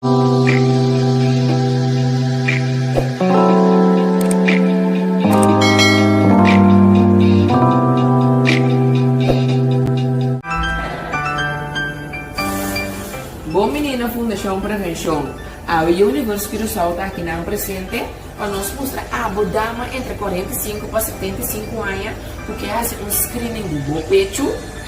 Bon Menina Fundacion Prevencion, Awe Yu Universo Curaçao ta aki nan presente pa nos mustra abo dama entre cuarenta y cinco pa setenta y cinco aña cu kier hasi un screening di bo pechu.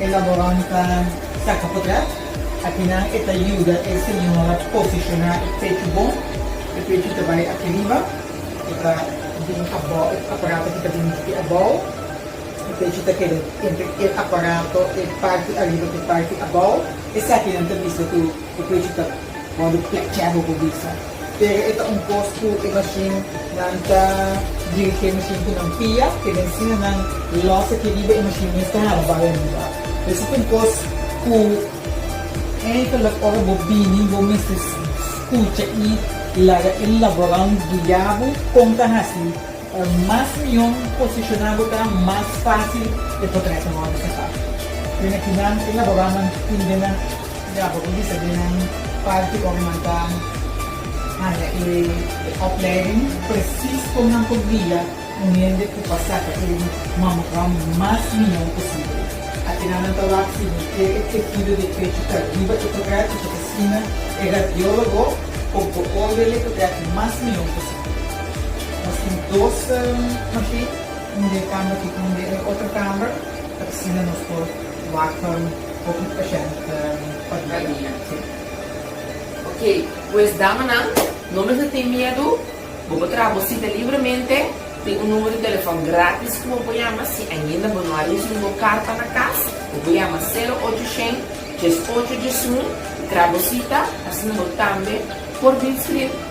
Elaboranta Sakapotrèf, Akinan e ta yuda e señora posishoná e pechu bon, e pechu ta bai aki riba, e ta bin abou, e aparato aki ta bin aki abou, e pechu ta keda entre e aparato, e parti ariba ku e parti abou, esakinan ta bisa ku E precio ta wordo plechebo bo bisa. Pero e ta un cos cu e machine nan ta dirige machine cu nan pia, ke den sina nan los aki riba e machine mes ta hara bai ariba. Pues e ta un cos cu eigenlijk ora bo bini bo mester scucha y laga e laboran guia bo con ta haci. Ora mas mion posishoná bo ta, mas fásil e potret a wòrdu saka. Kue na ki nan elaborá nan tindenan? Ya bo por bisa den nan parti ora nan ta haña e oplèding presis kon nan por guia un hende ku pa saka e mammogram mas mion posibel. Aki nan nan ta wak si bo kere e tehido di e pechu ta riba e potret i ta asina e radiólogo por bo òrdele potret mas mion posibel. Nos tin dos machine, und'e kamba tin und'e e otro kamba, pa asina nos por wak hopi pashènt pa dia. Ok, pues damanan, no mester tin miedu, bo por traha bo sita libremente, tin un numero di telefòn gratis ku bo por yama, si ainda bo no a risibi bo karta na kas, bo por yama sero ocho shen, djes ocho djesun, traha bo sita, asina bo tambe por bin skirbi.